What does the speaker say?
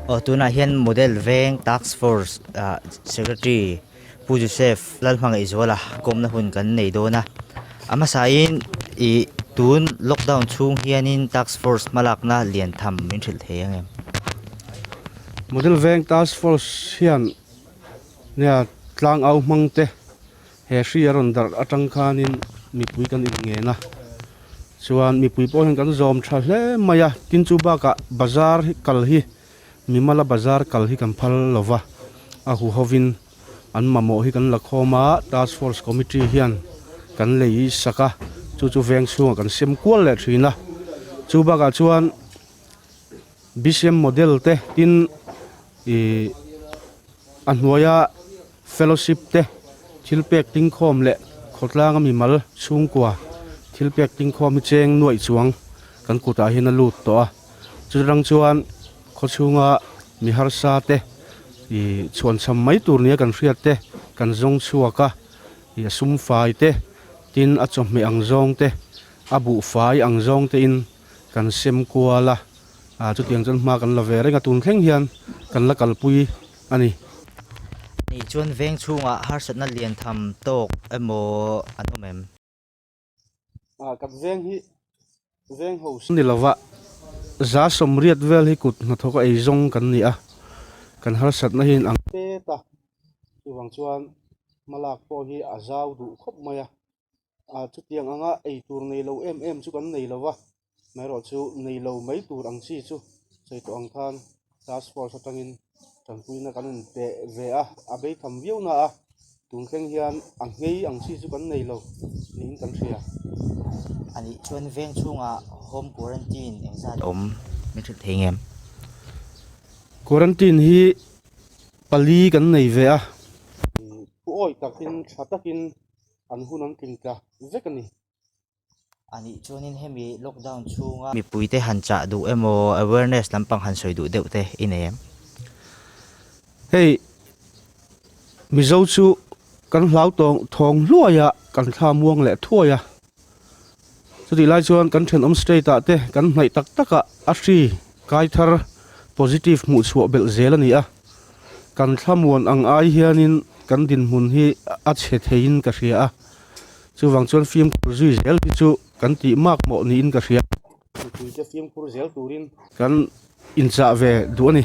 Aw tunah hian model veng task force ah secretary Pu Joseph lal hmangaih zuala kawmna hun kan nei dawn a. A hmasahin i tun lockdown chhung hianin task force hmalakna lian tham min hrilh thei ang em? Model veng task force hian nia tlang au hmangte He hri a rawn darh atang khanin mipui kan inngen a, chuan mipui pawh hian kan zawm tha hle mai a, tin chu bakah bazar hi kal hi mi mala bazar kal hi kan phal lo va, a hu hovin an mamawh hi kan la khawm a, task force committee hian kan lei sak a, chu chu veng chhungah kan siam kual leh thin a, chu bakah chuan bcm model te tin ih a hnuaia Fellowship te, thilpek tingkhawm leh khawtlanga mimal chhungkua thilpek tingkhawm hi cheng nuaih chuang kan kutah hian a lut tawh a, chutiang chuan khawchhunga mi harsa te ih chhuan chham mai tur nia kan hriat te, kan zawng chhuak a, ih a sum fai te, tin a chawhmeh ang zawng te, a buh fai ang zawng te in kan sem kual a, aa chutiang chuan hma kan la ve reng a, tun thleng hian kan la kalpui a ni. Ni chuan veng chhungah harsatna lian tham tawk emaw an awm em? A kat veng hi veng ho si. Ni lova, za sawmriat vel hi kut hnathawka ei zawng kan ni a, kan harsatna hi an ang. Te ta. Chuvang chuan hmalak pawh hi a zau duh khawp mai a, ah chutiang anga ei tur nei lo em em chu kan nei lo va maherawh chu nei lo mai tur ang chi chu sawi tawh ang khan task force atangin tanpuina kan rawn pe ve a a bei tham viau na a tun thleng hian a ngei ang chi chu kan nei lo niin kan hria a nih chuan veng chhungah home quarantine engzat awm min hrilh thei ngem quarantine hi pali kan nei ve a thu awi takin tha takin an hun an tling tla vek a ni. A nih chuanin hemi lockdown chhunga. Mipuite han chah duh emaw awareness lampang han sawi duh deuh te i nei em? Hei Mizo chu kan hlauhtawng thawng hluaia kan thlamuang leh thuai a. Chutih lai chuan kan thenawm state ah te kan hnaih tak tak ah a hri kai thar positive hmuh chhuah belh zel a ni a. Kan thla muan ang ai hianin kan dinhmun hi a chhe theiin ka hria a, chuvang chuan fimkhur zui zel hi chu kan tih mak mawh niin ka hria. Mipui te fimkhur zel turin kan inchah ve duh a ni.